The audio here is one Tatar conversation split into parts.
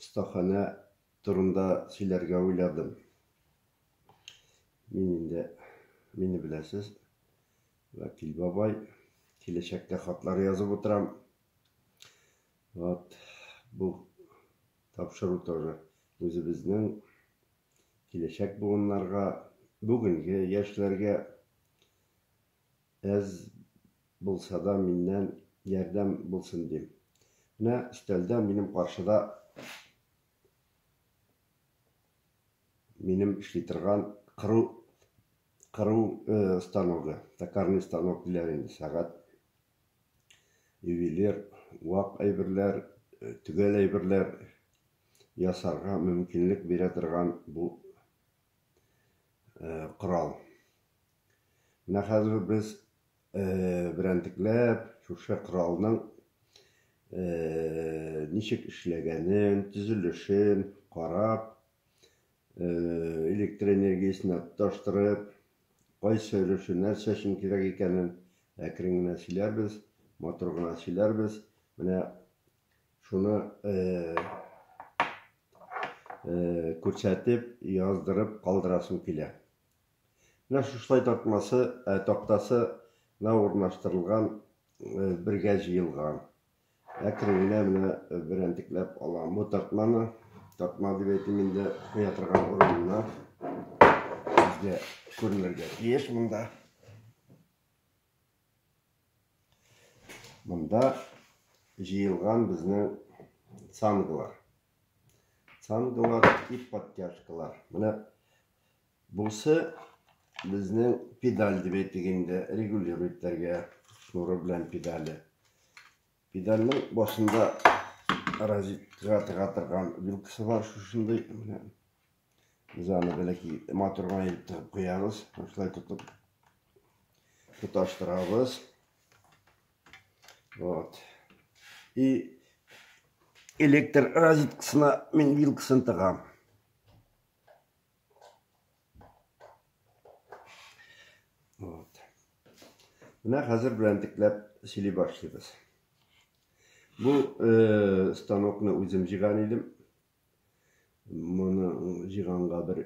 Остаханә турында сөйләргә уйладым. Мин инде, мине беләсез, Вәкил бабай, киләчәктә хатлар язып утырам. Вот, бу тапшыру тоже үзебезнең киләчәк буыннарга, бүгенге яшьләргә әз булсада миннән ярдәм булсын дим. Менә өстәлдә минем каршыда минем эшли торган кыру кыру станогы, токарный станок диләр инде, сәгать, ювелир, вак әйберләр, төгәл әйберләр ясарга мөмкинлек бирә торган бу корал. Менә хәзер үк без берәнтекләп шушы коралның ничек эшләгәнен, төзелешен карап, электр энергиясенә тоташтырып, кайсы өлеше нәрсә өчен кирәк икәнен әкрен генә сөйләрбез, матур гына сөйләрбез. Менә шуны күрсәтеп, яздырып калдырасым килә. Менә шушылай тартмасы, ә тактасы на урнаштырылган, бергә җыелган. Әкрен генә менә берәнтекләп алам. Бу тартманы, тартма дип әйтим инде, куя торган урынына сезгә күренергә тиеш монда. Монда җыелган безнең цанглар. Цанглар и подтяжкалар. Менә Бусы безнең педаль дип әйтик инде, регулируйтәргә шнуры белән педале. Педальның башында розеткага тыга торган вилкасы бар шушындый. Менә без аны бәләки моторга илеп тыгып куябыз. Шулай тотып тоташтырабыз. Вот. И электр розеткасына мин вилкасын тыгам. Вот. Менә хәзер белән дикләп сөйли башлыйбыз. Бу э, станокны үзем җиган идем. Моны җиганга бер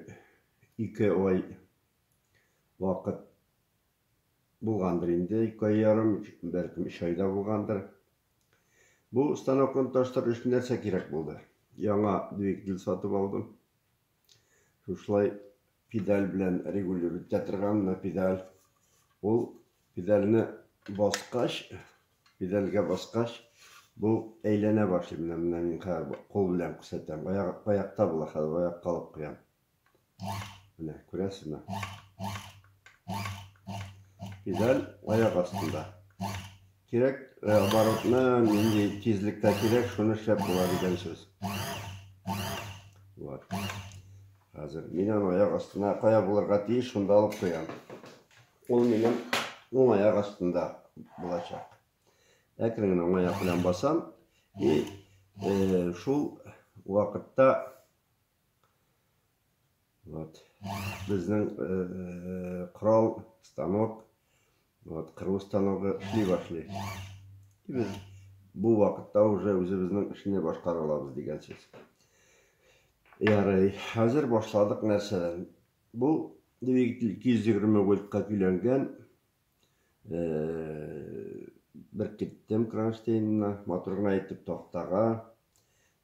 ике ай вакыт булгандыр инде, ике ай ярым, бәлкем өч айда булгандыр. Бу станокны таштырыр өчен нәрсә кирәк булды? Яңа двигатель сатып алдым. Шушылай педаль белән регулировать итә торган мына педаль. Ул педальне баскач, педальгә баскач, бу әйләнә башлый. Менә менә мин хәзер кул белән күрсәтәм. Аякта була хәзер, аякка алып куям. Менә күрәсезме? Педаль аяк астында. Кирәк э, оборотны нинди тизлектә кирәк, шуны эшләп була дигән сүз. Вот. Хәзер мин аны аяк астына кая булырга тиеш, шунда алып куям. Ул минем уң аяк астында булачак. Әкрен генә уң аяк белән басам и э, шул вакытта Вот. Безнең э, корал, станок, вот, кыру станогы эшли башлый. И без бу вакытта уже үзебезнең эшне башкара алабыз дигән сүз. Ярый, хәзер башладык нәрсәдән? Бу двигатель 220 вольтка көйләнгән. Бер киттем кронштейнына, матур гына итеп тактага,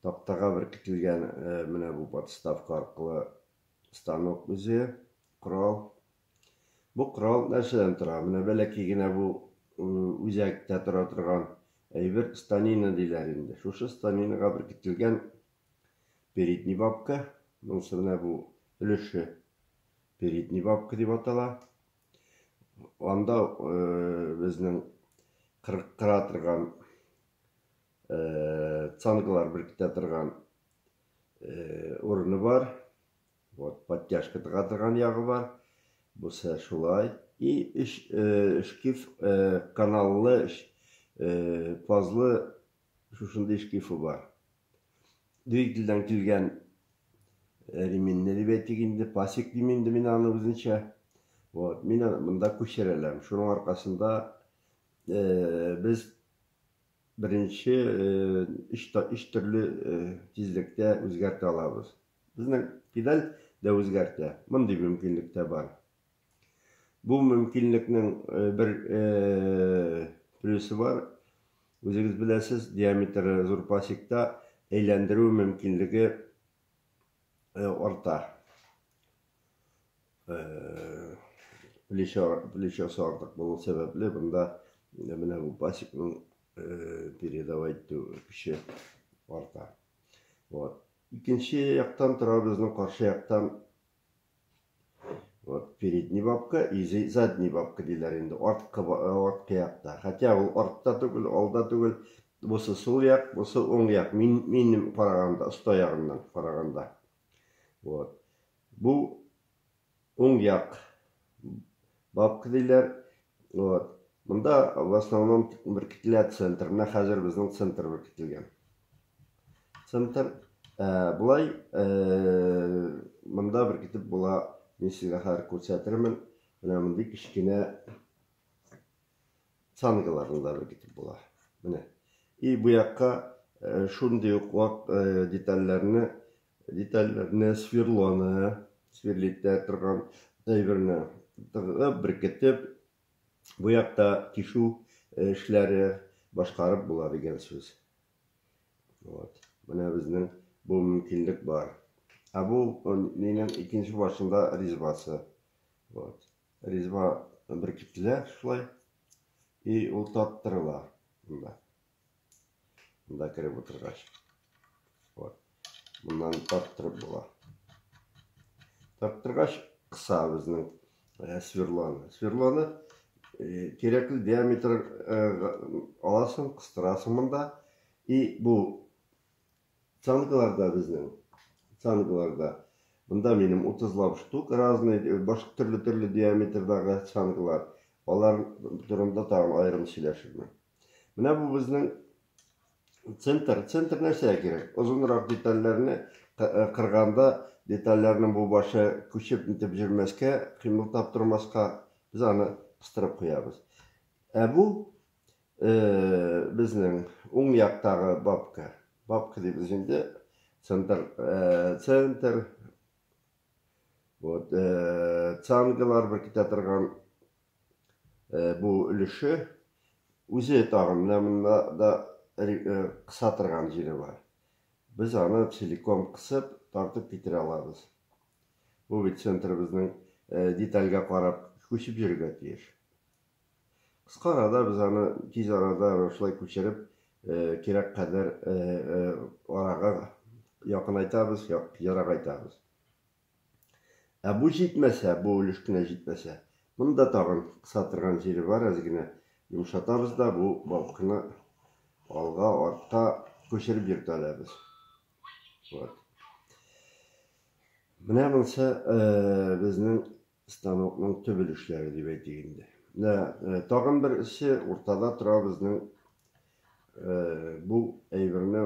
тактага беркетелгән менә бу подставка аркылы станок үзе, корал. Бу корал нәрсәдән тора? Менә бәләкәй генә бу үзәктә тора торган әйбер станина диләр инде. Шушы станинага беркетелгән передний бабка, монысы менә бу өлеше передний бабка дип атала. Анда безнең кырыктыра торган, цангалар беркетә торган урыны бар. Вот, подтяжка тыга торган ягы бар. Бусы шулай. И шкив каналлы, пазлы Шушындый шкифы бар. Двигательдән килгән реминне дип әйтик инде, пасек дим инде мин аны үзенчә. Вот, мин аны монда күчерәләм. Шуның аркасында э, без беренче э, өч, өч төрле э, тизлектә үзгәртә алабыз. Безнең педаль дә үзгәртә. Мондый мөмкинлек тә бар. Бу мөмкинлекнең э, бер э, плюсы бар. Үзегез беләсез, диаметры зур пасекта әйләндерү мөмкинлеге э, арта. Плечосы артык булу сәбәпле, бында менә бу пасекның передавать итү көче арта. Вот. Икенче яктан тора безнең каршы яктан Вот передний бабка и задний бабка диләр инде. Арткы арткы якта. Хотя ул артта түгел, алда түгел. Бусы сул як, бусы уң як. Мин минем караганда, оста ягыннан караганда. Вот. Бу уң як. Бабка диләр. Вот. Монда в основном беркетелә центр. Менә хәзер безнең центр беркетелгән. Центр ә, булай ә, монда беркетеп була. Мин сезгә хәзер күрсәтермен. Менә мондый кечкенә цангаларында беркетеп була. Менә. И бу якка шундый ук вак детальләрне Детальләрне сверлоны, сверлитә торган әйберне тыгып, беркетеп, буякта тишү эшләре башкарып була дигән сүз. Вот. Менә безнең бу мөмкинлек бар. Ә бу минем икенче башында ризбасы. Вот. Ризба беркетелә шулай. И ул тарттырыла. Монда кереп утыргач. Вот. Моннан тарттырып була. Тарттыргач кыса безнең э, сверлоны. Сверлоны э, кирәкле диаметр э, аласың, кыстырасың монда. И бу цангаларда безнең цангаларда Монда минем 30 лап штук разный, башка төрле-төрле диаметрдагы цангалар. Алар турында тагын аерым сөйләшермен. Менә бу безнең центр. Центр нәрсә кирәк? Озынрак детальләрне э, кырганда детальләрнең бу башы күчеп нитеп җөрмәскә, кыймыл таптырмаска без аны кыстырып куябыз. Ә бу э, безнең уң яктагы бабка. Бабка дибез инде. Центр, э, центр, вот, э, цангалар беркетә торган бу өлеше үзе тагын менә монда да кыса торган җире бар. Без аны целиком кысып, тартып китерә алабыз. Бу бит центрыбызның детальгә карап күчеп йөрергә тиеш. Кыска арада без аны тиз арада шулай күчереп, кирәк кадәр арага якынайтабыз, ерагайтабыз. Ә бу җитмәсә, бу өлеш кенә җитмәсә, монда тагын кысатырган җире бар, әз генә йомшатабыз да бу балкны алга, артка күчереп йөртәләбез. Вот. Менә монсы безнең станокның төп өлешләре дип әйтик инде. Менә тагын бер эше уртада тора безнең бу әйберне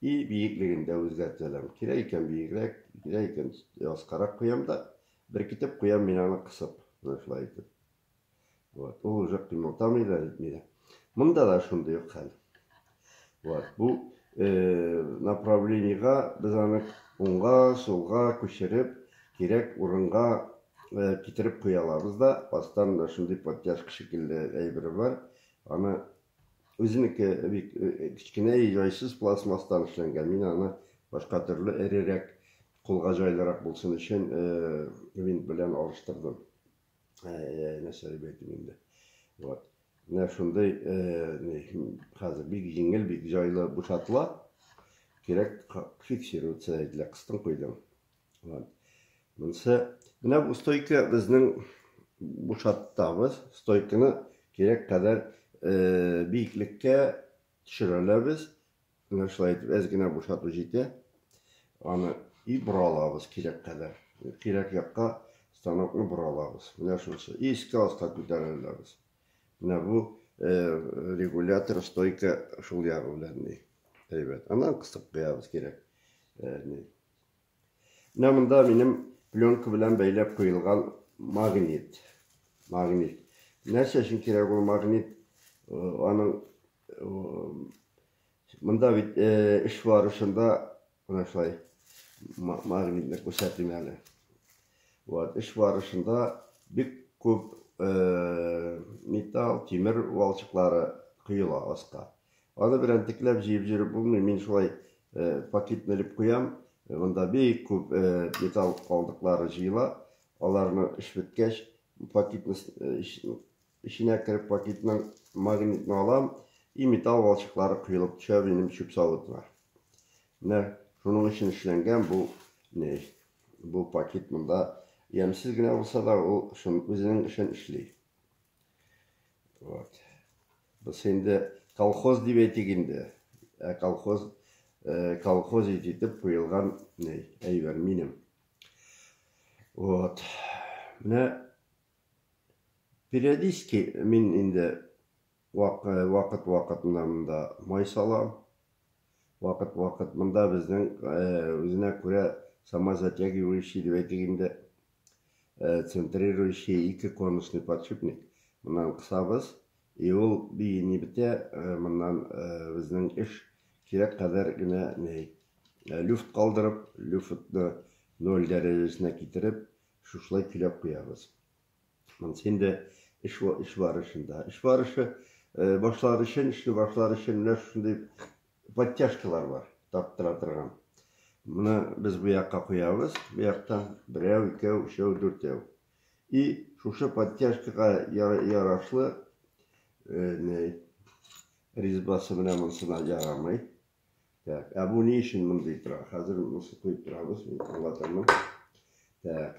И биеклеген дә үзгәртә алам. Кирәк икән биегрәк, кирәк икән яскарак куям да, беркетеп куям мин аны кысып, менә шулай итеп. Вот, ул уже кыймылтамый да, нитми дә. Монда да шундый ук хәл. Вот, бу э, направлениега без аны уңга, сулга күчереп, кирәк урынга э, китереп куя алабыз да, астан да шундый подтяжка шикелле әйбер бар. Аны Үзенеке бик кечкенә и җайсыз пластмасстан эшләнгән. Мин аны башка төрле эрерәк, кулга җайлырак булсын өчен винт белән алыштырдым. Нәрсә дип әйтим инде. Вот. Менә шундый хәзер бик җиңел, бик җайлы бушатыла. Кирәк фиксироваться ителә, кыстың куйдың. Вот. Монсы, менә бу стойка безнең бушаттабыз. Стойканы кирәк кадәр э, биеклеккә төшерәләбез. Менә шулай итеп әз генә бушату җитә. Аны и боралабыз кирәк кадәр. Кирәк якка станокны боралабыз. Менә шунысы. И искә аска күтәрәләбез. Менә бу э, регулятор стойка шул ягы белән ни. Әйбәт. Аннан кыстып куябыз кирәк. Э, Менә монда минем пленка белән бәйләп куелган магнит. Магнит. Нәрсә өчен кирәк ул магнит? Аның монда бит эш бар шунда менә шулай магнитны күрсәтим әле. Вот, эш барышында бик күп металл, тимер валчыклары коела аска. Аны белән текләп җыеп җөреп булмый, мин шулай пакетны элеп куям, монда бик күп металл калдыклары җыела, аларны эш беткәч, пакетны эченә кереп пакетның магнитны алам, и металл балчыклары коелып төшә минем чүп савытына. Менә шуның өчен эшләнгән бу не, бу пакет монда ямьсез генә булса да, ул шуның үзенең эшен эшли. Вот. Без инде колхоз дип әйтик инде. Ә колхоз э, колхоз итеп куелган ней әйбер минем. Вот. Менә периодически мин инде вакыт-вакытында монда май салам. Вакыт-вакыт монда безнең үзенә күрә самозатягивающий дип әйтик инде, центрирующий ике конусный подшипник моннан кысабыз, и ул биини бетә, моннан безнең эш кирәк кадәр генә люфт калдырып, люфтны ноль дәрәҗәсенә китереп, шушылай көйләп куябыз. Монысы инде эш эш барышында. Эш барышы башлар өчен, эшне башлар өчен менә шундый подтяжкалар бар, тарттыра торган. Моны без бу якка куябыз, бу яктан берәү, икәү, өчәү, дүртәү. И шушы подтяжкага ярашлы резьбасы менә монысына ярамый. Так, ә бу ни өчен мондый тора? Хәзер монысы куеп торабыз, мин аңлатырмын. Так.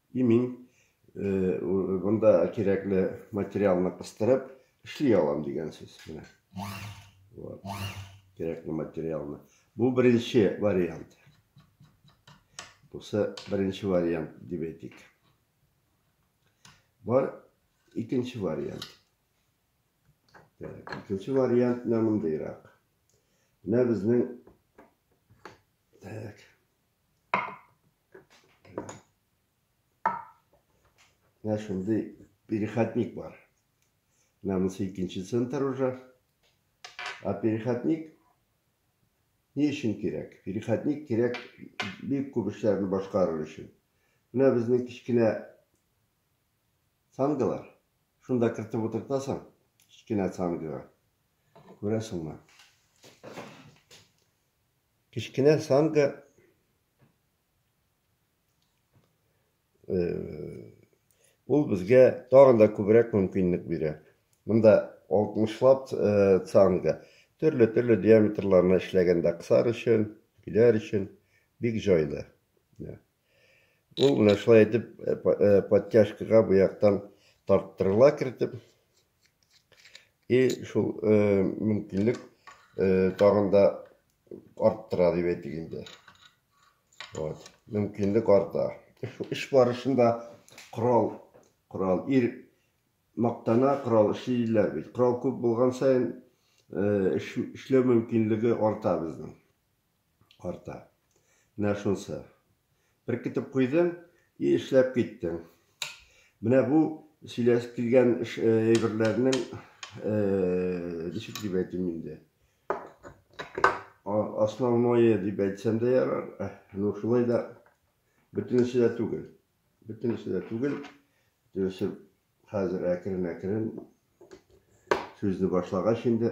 И мин монда кирәкле материалны кыстырып эшли алам дигән сүз. Менә. Вот. Кирәкле материалны. Бу беренче вариант. Бусы беренче вариант дип әйтик. Бар икенче вариант. Так, икенче вариант менә мондыйрак. Менә безнең Так. Менә шундый перехатник бар. Менә монысы икенче центр уже. А перехатник ни өчен кирәк? Перехатник кирәк бик күп эшләрне башкарыр өчен. Менә безнең кечкенә сангалар. Шунда кертеп утыртасың, кечкенә сангага. Күрәсеңме? Кечкенә санга ул безгә тагын да күбрәк мөмкинлек бирә. Монда 60 лап санга төрле-төрле диаметрларны эшләгәндә кысар өчен, көйләр өчен бик җайлы. Ул менә шулай итеп подтяжкага бу яктан тарттырыла кертеп. И шул мөмкинлек тагын да арттыра дип әйтик инде. Вот, мөмкинлек арта. Эш барышында корал, корал ир мактана корал эшлиләр бит. Корал күп булган саен эшләү мөмкинлеге арта безнең. арта. Менә шунсы. Беркетеп куйдың и эшләп киттең. Менә бу сөйләс килгән әйберләрнең ничек дип әйтим инде. Основное дип әйтсәм дә ярар. Ну шулай да бөтенесе дә түгел. Бөтенесе дә түгел. Бөтенесе хәзер әкрен-әкрен сүзне башлагач инде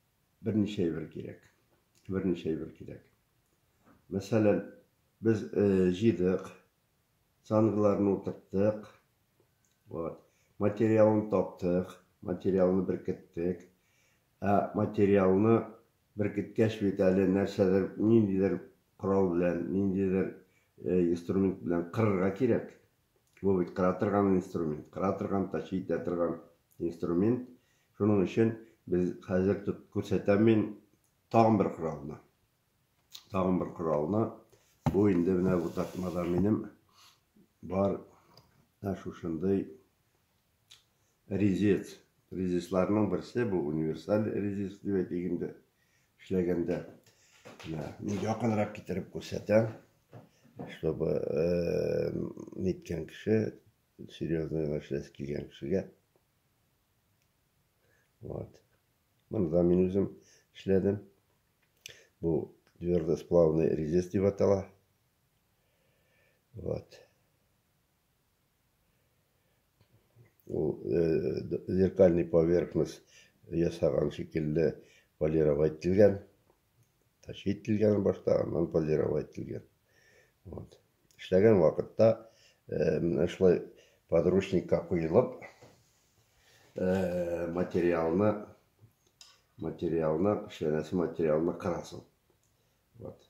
Берничә әйбер кирәк. Берничә әйбер кирәк. Мәсәлән, без э, җыйдык, цангларны утырттык, вот, материалын таптык, материалны беркеттек. Ә материалны беркеткәч бит әле нәрсәдер, ниндидер корал белән, ниндидер э, инструмент белән кырырга кирәк. Бу бит кыра торган инструмент, кыра торган, тащи итә торган инструмент. Шуның өчен без хәзер тут күрсәтәм мин тагын бер коралны. Тагын бер коралны. Бу инде менә бу тартмада минем бар. Ә шушындый Резец. Резецларның берсе бу универсаль резец дип әйтик инде. Эшләгәндә менә мин якынрак китереп күрсәтәм, чтобы э, ниткән кеше серьезный эшләсе килгән кешегә. Вот. Моны да мин үзем эшләдем. Бу твердосплавный резец дип атала. Вот. Ул зеркальный поверхность ясаган шикелле полировать ителгән. Тачи ителгән башта, аннан полировать ителгән. Вот. Эшләгән вакытта менә шулай подручникка куелып материалны материалны эшләнәсе материалны кырасың. Вот.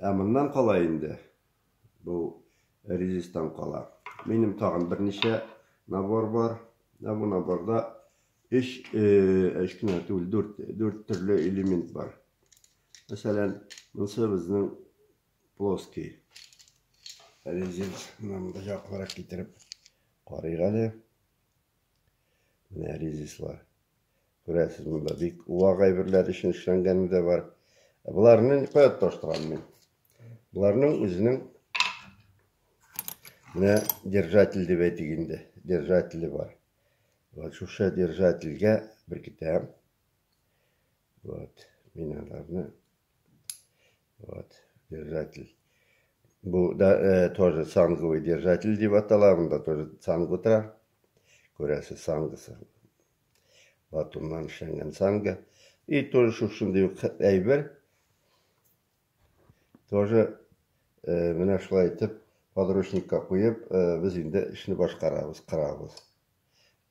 Ә моннан кала инде бу резистан кала. Минем тагын берничә набор бар. Ә бу наборда 3 3 кенә түгел, 4 4 төрле элемент бар. Мәсәлән, монысы безнең плоский резинс. Менә монда яклырак китереп карыйк әле. Менә резислар. Күрәсез, монда бик вак әйберләр өчен эшләнгәне дә бар. Ә боларны никоя тоташтырам мин. Боларның үзенең менә держатель дип әйтик инде, держателе бар. Вот шушы держательгә беркетәм. Вот, мин аларны Вот, держатель. Бу да э, тоже санговый держатель дип атала, монда тоже санг утыра. Күрәсе сангысы. Батумнан эшләнгән санга. И тоже шушындый ук әйбер. Тоже э, менә шулай итеп подручникка куеп, э, без инде эшне башкарабыз, кырабыз.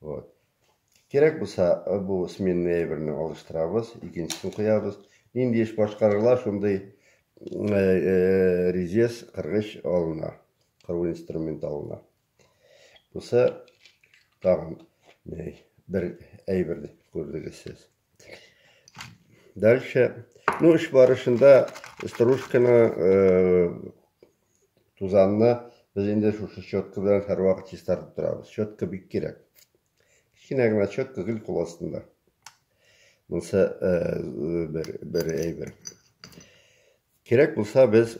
Вот. Кирәк булса, э, бу сменный әйберне алыштырабыз, икенчесен куябыз. Нинди эш башкарыла, шундый резец кыргыч алына, кыру инструмент алына. Буса тагын бер әйберне күрдегез сез. Дальше, ну, эш барышында стружканы, э, тузанны без инде шушы щетка белән һәрвакыт чистартып торабыз. Щетка бик кирәк. Кечкенә генә щетка гел кул астында. Монсы э, бер бер әйбер. Кирәк булса без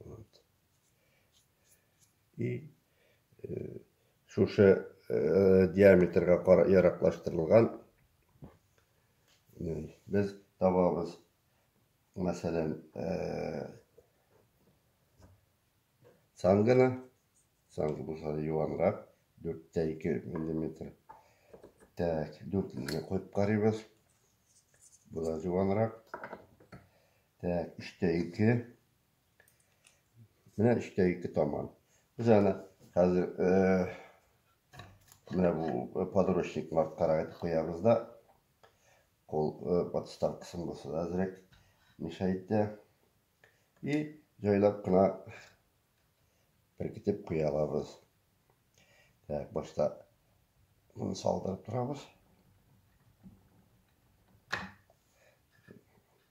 Вот. И э, шушы э, диаметрга яраклаштырылган э, без табабыз. Мәсәлән, э, сангына, санг булса юанрак, 4-2 мм. Так, 4 мм куеп карыйбыз. Була юанрак. Так, өчтә ике. Менә өчтә ике таман. Без аны хәзер менә бу подручник марткарак итеп куябыз да. Кол подставкасын булса да әзрәк мешайтә. И җайлап кына беркетеп куя алабыз. Так, башта моны салдырып торабыз.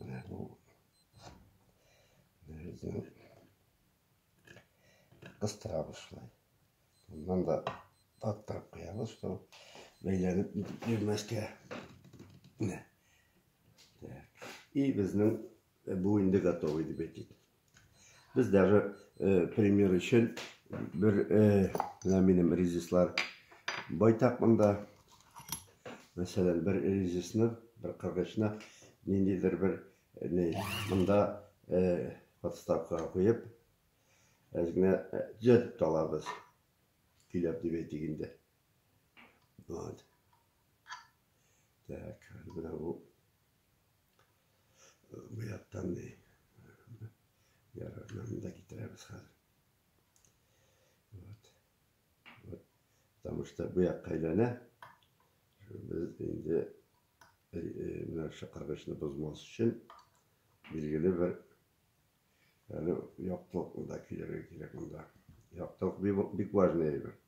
Менә бу бердән кыстыра башлый. Моннан да аттырып куябыз, то бәйләнеп нитеп йөрмәскә. Менә. И безнең бу инде готовый дип әйтик. Без даже э, пример өчен бер э, менә минем резислар байтак монда. Мәсәлән, бер резисны, бер кыргычны ниндидер бер э, не, монда э, подставкага куеп, әз генә э, төзәтеп тә алабыз. Көйләп дип әйтик инде. Вот. Так, менә бу Бу яктан ди. Ярыгыннан да китерәбез хәзер. Вот. Вот. Потому что бу якка әйләнә. Без инде менә чакыргычны бозмас өчен билгеле бер әле яктылык да килергә кирәк монда. Яктылык бик важный әйбер.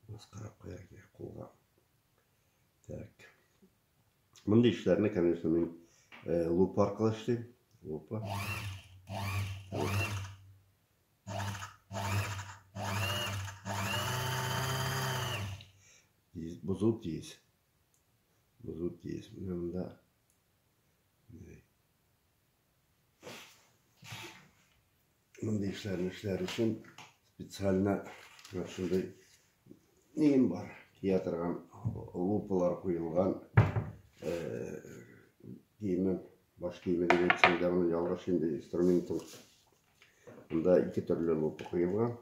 Маскара куяр кирәк кулга. Так. Мондый эшләрне, конечно, мин э, лупа аркылы эшлим. Лупа. Бозу тиз. Бозу тиз. Менә монда Мондый эшләрне эшләр өчен специально шундый нем бар. Кия торган лупалар куелган. Киемен, баш киеме дигән чәйдә моны ялгыш инде инструментым. Монда ике төрле лупа куелган.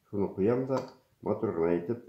Шуны куям да матур гына итеп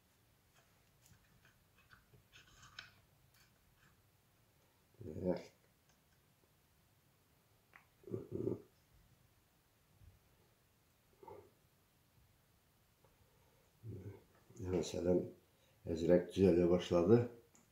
Мәсәлән, әзрәк төзәлә башлады.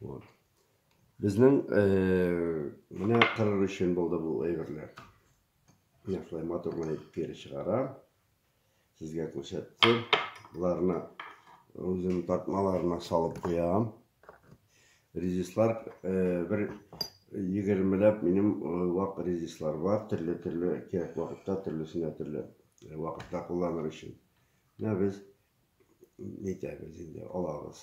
Вот. Безнең э, менә кырыр өчен булды бу әйберләр. Менә шулай матурлап итеп кире чыгара. Сезгә күрсәттем. Боларны үзем тартмаларына салып куям. Резислар э, бер егермеләп минем э, вак резислар бар. Төрле-төрле кирәк вакытта, төрлесенә төрле э, вакытта кулланыр өчен. Менә без нитәбез инде, алабыз.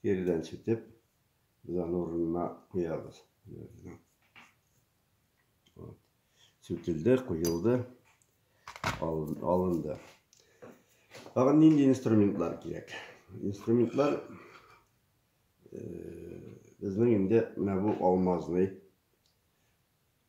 Киридән читеп, без аны урынына куябыз. Вот. Сүтелде, куелды, алынды. Тагын нинди инструментлар кирәк? Инструментлар э, безнең инде менә бу алмазный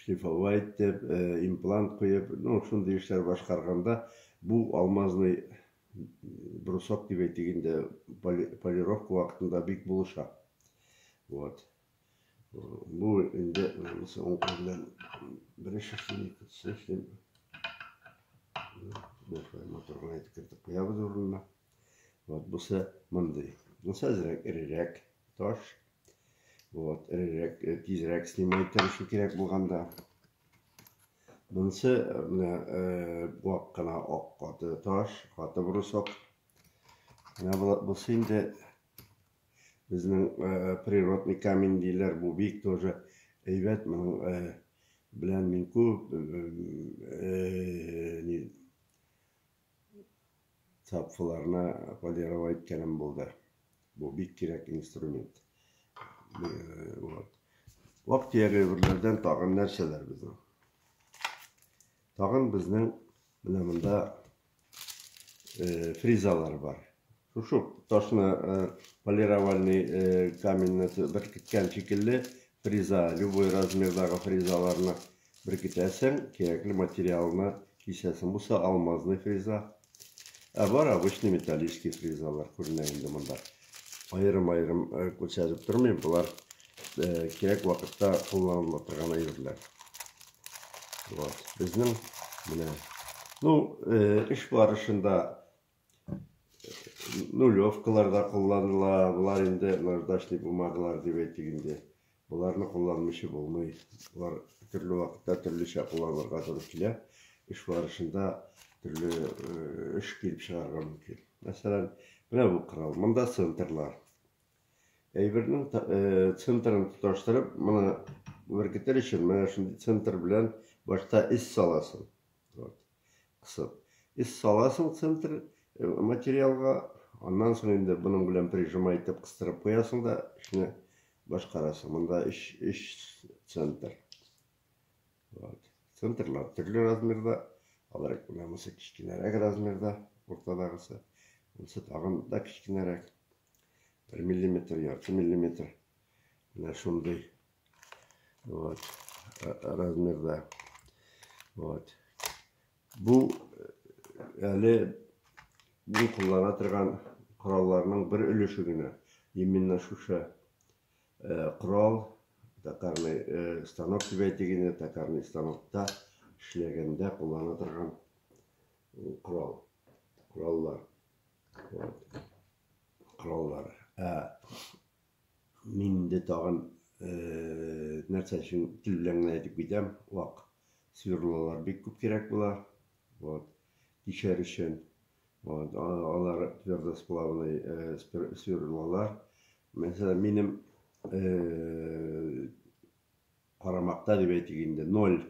Шифалы әйтеп, имплант куеп, ну, шундый эшләр башкарганда, бу алмазный брусок дип әйтик инде, полировка вакытында бик булыша. Вот. Бу инде монысы уң кул белән бер эш эшлим, икенчесен эшлим. Башка моторга әйтеп кертеп куябыз урынына. Вот бусы мондый. Бусы әзрәк, эрерәк таш. Вот, эрерәк, э, тизрәк снимай тырышу кирәк булганда. Монысы э, менә э, вак кына ак каты таш, каты брусок. Менә бусы инде безнең природный камень диләр, бу бик тоже әйбәт, моның белән мин күп цапфаларына полировать иткәнем булды. Бу бик кирәк инструмент. Вот. Вак тияргә берләрдән тагын нәрсәләр безнең? Тагын безнең менә монда э, фризалар бар. Шушы ташны полировальный каменьны беркеткән шикелле фреза, любой размердагы фрезаларны беркетәсең, кирәкле материалны кисәсең. Бусы алмазный фреза. Ә бар обычный металлический фрезалар күренә инде монда. Аерым-аерым күрсәтеп тормыйм, болар кирәк вакытта кулланыла торган әйберләр. Вот, безнең менә. Ну, эш барышында Нулевкалар да кулланыла, болар инде наждачный бумагалар дип әйтик инде. Боларны кулланмыйча булмый. Болар төрле вакытта төрлечә кулланырга туры килә. Эш барышында төрле эш килеп чыгарга мөмкин. Мәсәлән, менә бу корал. Монда центрлар. Әйбернең центрын тоташтырып, моны беркетер өчен менә шундый центр белән башта эз саласың. Вот. кысып. Эз саласың центр материалга, аннан соң инде моның белән прижимай итеп кыстырып куясың да эшне башкарасың. Монда өч, өч центр. Вот. Центрлар төрле размерда. Алар менә монысы кечкенәрәк размерда, уртадагысы. Монысы тагын да кечкенәрәк. Бер миллиметр, ярты миллиметр. Менә шундый. Вот. Размерда. Вот. Бу әле мин куллана торган коралларның бер өлеше генә. Именно шушы корал, токарный станок дип әйтик инде, токарный станокта эшләгәндә куллана торган корал, кораллар. Вот. Кораллар. Ә Мин инде тагын нәрсә өчен тел белән генә әйтеп китәм, вак сверлолар бик күп кирәк була. Вот. Тишәр өчен. Вот. Алар твердосплавный сверлолар. Мәсәлән, минем карамакта дип әйтик инде, 0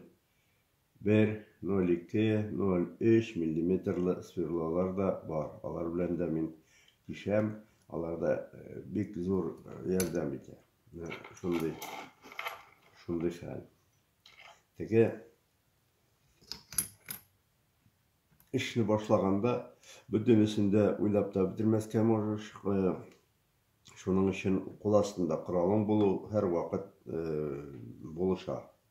Бер, ноль ике, ноль өч миллиметрлы сверлолар да бар, алар белән дә мин тишәм, алар да бик зур ярдәм итә. Шундый, шундый хәл. Теге эшне башлаганда бөтенесен дә уйлап та бетермәскә можешь. Э, шуның өчен кул астында коралың булу һәрвакыт э, булыша.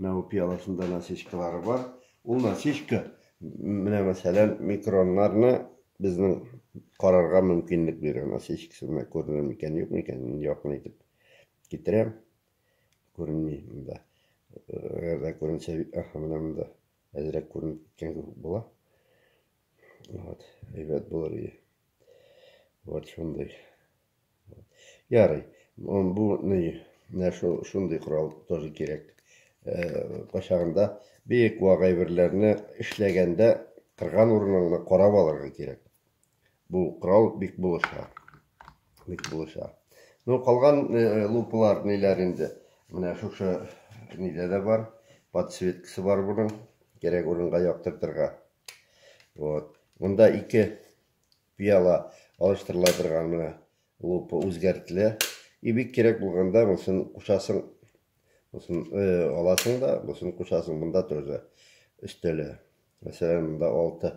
Менә бу пиаласында насечкалары бар. Ул насечка менә мәсәлән микроннарны безнең карарга мөмкинлек бирә. Насечкасы менә күренер микән, юк микән? Якын итеп китерәм. Күренми монда. Әгәр дә күренсә, аха, менә монда әзрәк күренеп киткән кебек була. Вот, әйбәт булыр иде. Вот шундый. Ярый. Бу ни, менә шул шундый корал тоже кирәк. Кайчагында бик вак әйберләрне эшләгәндә кырган урыныңны карап алырга кирәк. Бу корал бик булыша. Бик булыша. Ну, калган лупалар ниләр инде? Менә шушы нидә дә бар. Подсветкасы бар буның. Кирәк урынга яктыртырга. Вот. Монда ике Пыяла алыштырыла торган менә лупа үзгәртелә. И бик кирәк булганда монысын кушасың. Монысын аласың да, монысын кушасың. Монда тоже өстәлә. Мәсәлән, монда 6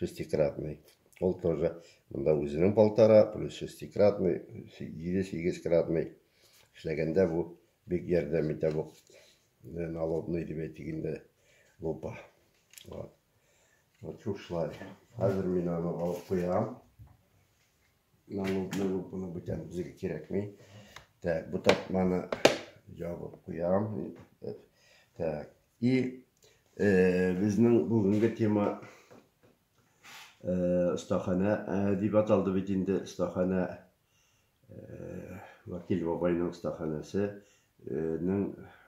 шестикратный. Ул тоже монда үзенең полтора плюс шестикратный, 7-8 кратный. Эшләгәндә бу бик ярдәм итә бу налобный дип әйтик инде лупа. Вот. Вот чук шулай. Хәзер мин аны алып куям. Налупны лупыны бүтән безгә кирәкми. Так, бу тартманы ябып куям. Так, и э, безнең бүгенге тема э, остахана э, дип аталды бит инде остахана э, Вакил бабайның остаханасы. Э,